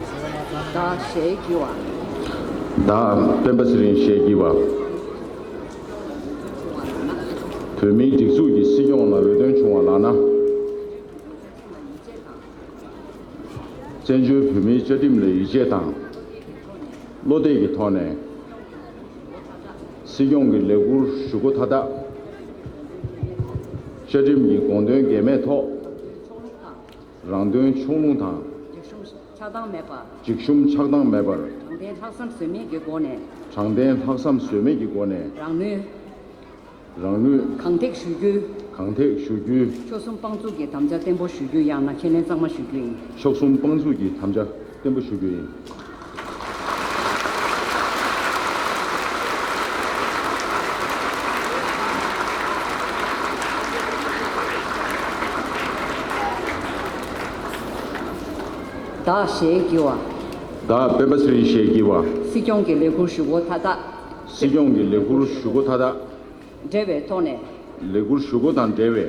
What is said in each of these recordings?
བདག་ཞལ་བགྱི་བ། བདག་སྤེན་པ་ཚེ་རིང་ཞལ་བགྱི་བ། བོད་མིའི་སྒྲིག་འཛུགས་ཀྱི་སྲིད་སྐྱོང་ལ་འོས་ཐོན་བྱུང་བ་ལགས་ན། བཙན་བྱོལ་བོད་མིའི་བཅའ་ཁྲིམས་ལ་ཡིད་ཆེས་དང། བློ་གཏད་ཀྱི་ཐོག་ནས། སྲིད་སྐྱོང་གི་ལས་འཁུར་ཞུ་སྒོ་མཐའ་དག། བཅའ་ཁྲིམས་ཀྱི་དགོངས་དོན་འགལ་མེད་ཐོག། རང་དོན་ཕྱོགས་ལྷུང་དང། འཇིགས་ཞུམ་ཆགས་སྡང་མེད་པར། འཇིགས་ཞུམ་ཆགས་སྡང་མེད་པར། དྲང་བདེན་ལྷག་བསམ་ཟོལ་མེད་ཀྱི་སྒོ་ནས། དྲང་བདེན་ལྷག་བསམ་ཟོལ་མེད་ཀྱི་སྒོ་ནས། རང་ནུས། རང་ནུས། གང་ཐེག་ཞུ་རྒྱུ། གང་ཐེག་ཞུ་རྒྱུ། མཆོག་གསུམ་དཔང་བཙུགས་ཀྱི་དམ་བཅའ་བརྟན་པོ་ཞུ་རྒྱུ་ཡང་ན་ཁས་ལེན་གཙང་མ་ཞུ་རྒྱུ་ཡིན། མཆོག་གསུམ་དཔང་བཙུགས་ཀྱི་དམ་བཅའ། བརྟན་པོ་ཞུ་རྒྱུ་ཡིན། བདག་ཞེས་བགྱི་བ། བདག་སྤེན་པ་ཚུལ་ཞེས་བགྱི་བ། སྲིད་སྐྱོང་གི་ལས་ཁུར་ཞུ་སྒོ་མཐའ་དག། སྲིད་སྐྱོང་གི་ལས་ཁུར་ཞུ་སྒོ་མཐའ་དག། འབྲེལ་བའི་ཐོག་ནས། ལས་ཁུར་ཞུ་སྒོ་དང་འབྲེལ་བའི།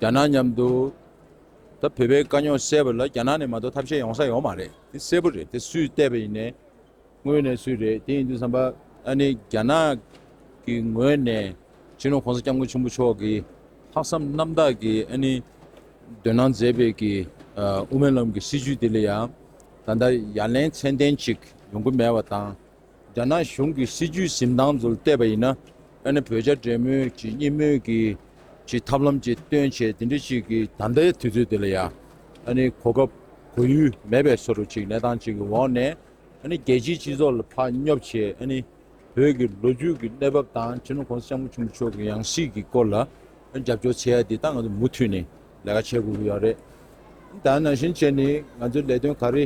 རྒྱ་ནག་མཉམ་དུ་ད་བོད་པའི་དཀའ་རྙོག་བསལ་བ་ལ་རྒྱ་ནག་ནས་མ་གཏོགས་ཐབས་ཤེས་ཡོང་ས་ཡོད་མ་རེད་དེ་གསལ་པོ་རེད་དེ་སུས་བལྟས་པ་ཡིན་ནས་དངོས་ནས་སུས་རེད་དེ་ཡིན་དུས་བསམ་པ་ཨ་ནི་རྒྱ་ནག་གི་ངོས་ནས་སྤྱི་ནོར་གོང་ས་སྐྱབས་མགོན་ཆེན་པོ་མཆོག་གི་ལྷག་བསམ་རྣམ་དག་གི་ཨ་ནི་འདོན་གནང་མཛད་པའི་གི་དབུ་མའི་ལམ་གི་སྲིད་བྱུས་དེ་ལ་ཡང་ད་ལྟ་ཡ་ལན་ཚན་ལྡན་ཅིག་ཡོང་གི་མེད་པ་དང། རྒྱ་ནག་གཞུང་གི་སྲིད་བྱུས་གཟིམ་ཐང་དུ་བལྟས་པ་ཡིན་ན། ཡང་ན་བོད་རྒྱ་འབྲེལ་མོལ་གྱི་གཉིས་སྨོན་གྱི་ཐབས་ལམ་གྱི་སྟོན་བྱེད་དེ་འདྲ་ཞིག་གི་ད་ལྟའི་དུས་ཚོད་འདི་ལ་ཡང་གོ་སྐབས་གོ་ཡུལ་མེད་པའི་ཚོར་བ་ཅིག་གནས་སྟངས་གཅིག་གི་འོག་ནས་རྒྱལ་སྤྱིའི་སྤྱི་ཚོགས་ལ་ཕར་སྙོབ་བྱས། བོད་ཀྱི་ལོ་རྒྱུས་ཀྱི་གནས་བབ་དང་ཁྲི་ནུབ་ཁོང་ས་སྐྱབས་མགོན་ཆེན་པོ་མཆོག་གི་ཡང་སྲིད་ཀྱི་སྐོར་ལ་རྒྱབ་སྐྱོར་བྱེད་ཡ་དེ་ད་ང་ཚོས་མུ་མཐུད་ནས་ལས་ཀ་བྱེད་དགོས་ཀྱི་ཡོད་རེད། ད་ནང་བཞིན་བྱས་ནས་ང་ཚོའི་ལས་དོན་ག་རེ་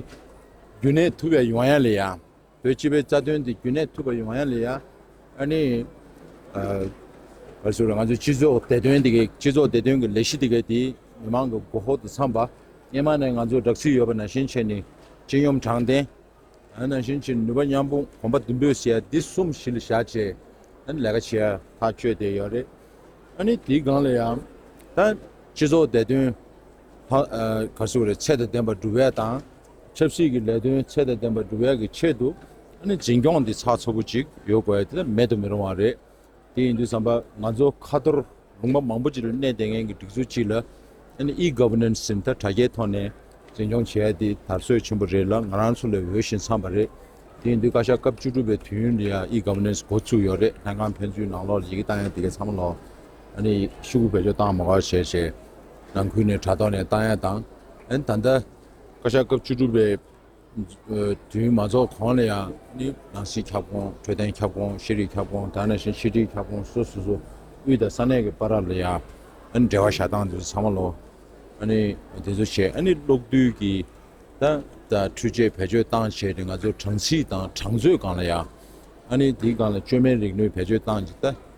རྒྱུན་གནས་ཐུབ་ཡ་ཡོང་ཡ་ལ་ཡང། བོད་སྤྱི་པའི་རྩ་དོན་དེ་རྒྱུན་གནས་ཐུབ་པ་ཡོང་བ་ཡང་ལས་ཡ་ཨ་ནི། བར་སོ་ར་ང་ཚོའི་སྤྱི་ཚོགས་བདེ་དོན་དེ་གའི་སྤྱི་ཚོགས་བདེ་དོན་གྱི་ལས་གཞི་དེ་གའི་དེ་མི་མང་གི་མགོ་ཧོག་ཏུ་འཚམས་པ། སྙེ་མ་ནས་ང་ཚོར་སྦྲགས་ཚུལ་ཡོད་པ་ནང་བཞིན་བྱས་ནས་སྤྱི་ཡོམ་དྲང་བདེན། ནང་བཞིན་བྱས་ནས་ནུས་པ་མཉམ་སྤུངས་གོམ་པ་མདུན་སྤོས་བྱས་ཡ་འདི་གསུམ་གཞི་ལ་བཞག་བྱས་ཨ་ནི་ལས་ཀ་བྱས་ཡ་ཐག་གཅོད་བསྡད་ཡོད་རེད། ཨ་ནི་དེའི་སྒང་ལ་ཡང་ད་སྤྱི་ཚོགས་བདེ་དོན། བར་སོགས་ལས་ཚད་དང་ལྡན་པ་སྒྲུབ་འོས་དང། ཆབ་སྲིད་ཀྱི་ལས་དོན་ཚད་དང་ལྡན་པ་སྒྲུབ་འོས་ཀྱི་ཆེད་དུ། འཛིན་སྐྱོང་འདི་ཚགས་ཚུད་པོ་ཅིག་ཡོད་དགོས་ཡ་དེ་མེད་དུ་མི་རུང་བ་རེད། དེ་ཡིན་དུས་བསམ་པ་ང་ཚོ་ཁ་ཐོར་ལུང་པ་མང་པོ་ཅིག་ལ་གནས་བསྡད་མཁན་གྱི་སྒྲིག་འཛུགས་ཅིག་ལ། E-Governance ཟིན་ཐ་དྲ་རྒྱའི་ཐོག་ནས་འཛིན་སྐྱོང་བྱེད་ཡ་དེ་དར་སྲོལ་ཆེན་པོ་རེད་ལ་ང་རང་ཚོ་ལས་འོས་ཤིང་འཚམས་པ་རེད། དེ་ཡིན་དུས་བཀའ་ཤག་སྐབས་བཅུ་དྲུག་པའི་དུས་ཡུན་ལ་ཡང E-Governance འགོ་བཙུགས་ཡོད་རེད་ལྷན་ཁང་ཕན་ཚུན་ནང་ལོགས་ལ་ཡི་གེ་བཏང་ཡ་དེ་གས་ཚང་མ་ལོགས། ཤུགས་བེད་སྤྱོད་བཏང་མ་དགོས་བྱས་བྱས། ནང་ཁུལ་ནས་དྲ་ཐོག་ནས་བཏང་ཡག་དང། ད་ལྟ། བཀའ་ཤག་སྐབས་བཅུ་དྲུག་པའི་དུས་མ་རྫོགས་གོང་ལ་ཡང་ནི་ནང་སྲིད་ཁྱབ་ཁོངས་འཕྲོད་བསྟེན་ཁྱབ་ཁོངས་ཤེས་རིག་ཁྱབ་ཁོངས་དང་ནང་བཞིན་ཕྱི་དྲིལ་ཁྱབ་ཁོངས་སོ་སོ་སོ་དབུས་དང་ས་གནས་ཀྱི་པར་ར་ལ་ཡང་ནི་འབྲེལ་བ་བཞག་སྟངས་དེ་ཚོ་ཚང་མ་ལོ། ནི་དེ་ཚོ་བྱས་ནི་གློག་རྡུལ་གྱི་དང། འཕྲུལ་ཆས་བེད་སྤྱོད་བཏང་བྱས་ཏེ་ང་ཚོ་གྲངས་ཚིག་དང་གྲངས་མཛོད་སྒང་ལ་ཡང། ནི་དེའི་སྒང་ལ་བཅོས་མའི་རིག་ནུས་བེད་སྤྱོད་བཏང་བྱས་ཏེ།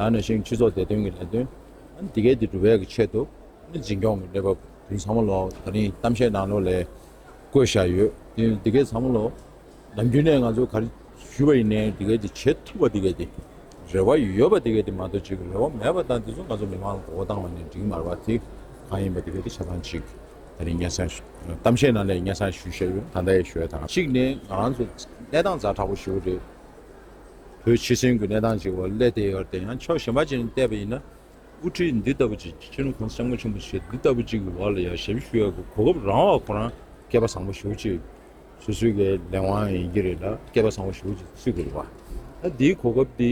ཡང་ན་ཞིང་ཕྱུགས་ཚོགས་སྡེ་དོན་གྱི་ལས་དོན་དེ་གའི་དེ་སྒྲུབ་བྱེད་ཀྱི་ཆེད་དུ་འཛིན་སྐྱོང་གི་གནས་བབ་དེ་ཚང་མ་ལོ་ད་རིང་གཏམ་བཤད་ནང་ལོ་ལས་བཀོད་བཞག་ཡོད་དེ་དེ་གའི་ཚང་མ་ལོ་ནམ་རྒྱུན་ནས་ང་ཚོ་ག་རེ་ཞུས་པ་ཡིན་ནའི་དེ་གའི་དེ་བྱེད་ཐུབ་པ་དེ་གའི་དེ་རེ་བ་ཡོད་པ་དེ་གའི་དེ་མ་གཏོགས་བྱེད་ཀྱི་རེ་བ་མེད་པ་དང་དེ་ཚོ་ང་ཚོ་མི་མང་ལ་གོ་བ་བཏང་བ་ནས་འགྲིག་མ་རེད་པ་དེ་གང་ཡིན་པ་དེ་གའི་དེ་ཆ་ཚང་ཞིག་ད་རིང་སྙན་སེང་གཏམ་བཤད་ནང་ལས་སྙན་སེང་ཞུས་བཞག་ཡོད་ད་ལྟ་ཡང་ཞུས་ཡོད་ད། གཅིག་ནས་ང་རང་ཚོ་གནས་སྟངས་ཛར་དྲག་པོ་ཞིག་རེད། བོད་ཕྱི་ཚུལ་གྱི་གནས་སྟངས་ཀྱི་འོག་ཀླད་དེ་ཡོད་དེ་ཡང་ཆོག་ཞེས་མ་ཅིག་ནས་བལྟས་པ་ཡིན་ན། དབུ་ཁྲིད་འདི་ལྟ་བུ་ཅིག་སྤྱི་ནོར་ཁང་སེང་མོ་ཆེན་པོ་ཞེས་འདི་ལྟ་བུ་ཅིག་གི་འོག་ལ་ཡར་ཞབས་ཞུ་ཡོད་པའི་གོ་སྐབས་རང་འོག་ཁོ་རང་སྐལ་པ་བཟང་པོ་ཞུ་ཅིག་སུ་སུའི་གི་ལས་དབང་ཡང་ཡིན་གྱི་རེད་ལ་སྐལ་པ་བཟང་པོ་ཞུ་ཅིག་སུས་གི་རེད་བ། ད་འདིའི་གོ་སྐབས་འདི་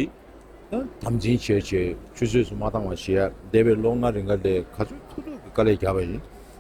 ཡང་དམ་འཛིན་བྱེད་ཆེད་ཆུད་ཟོས་སུ་མ་བཏང་བ་བྱེད་ཡ་འདས་པའི་ལོ་ལྔ་རེ་འགའ་ལས་ག་ཚོད་ཐུག་ཐུག་གི་དཀའ་ལས་རྒྱབ་པ་ཡིན།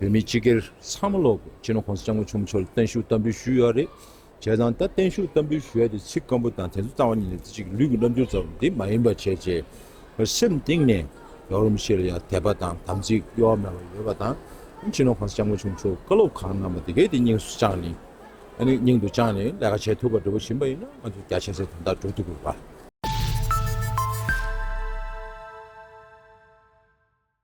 བོད་མི་སྤྱི་སྒེར་ཚང་མ་ལོག་དགོས་ཕྱིར་ན་ཁོང་ས་སྐྱབས་མགོན་ཆེན་མོ་མཆོག་ལ་བརྟན་བཞུགས་གཏམ་འབུལ་ཞུས་ཡོད་རེད་བྱས་ཙང་ད་བརྟན་བཞུགས་གཏམ་འབུལ་ཞུ་ཡ་དེ་ཚིག་སྐམ་པོ་དང་དེ་ཚོ་གཙང་བ་ཉིད་ལས་རྩེ་གཅིག་གི་ལུས་ཀྱི་རྣམ་འགྱུར་ཙམ་དེ་མ་ཡིན་པ་བྱས་རྗེས་ལ་སེམས་གཏིང་ནས་ཡག་རུང་ཕྱིར་ལ་ཡང་དད་པ་དང་དམ་ཚིག་གཡོ་བ་མེད་པ་ཡོད་པ་དང་ཕྱིར་ན་ཁོང་ས་སྐྱབས་མགོན་ཆེན་མོ་མཆོག་བཀའ་སློབ་གང་གནང་པ་དེ་གས་དེ་སྙིང་སུ་བཅངས་ནས་སྙིང་དུ་བཅངས་ནས་ལས་ཀ་བྱས་ཐུབ་པ་འདྲ་པོ་བྱིན་པ་ཡིན་ན་ང་ཚོ་རྒྱ་ཆེ་ཚད་དོན་དག་འགྲུབ་ཐུབ་དགོས་པ།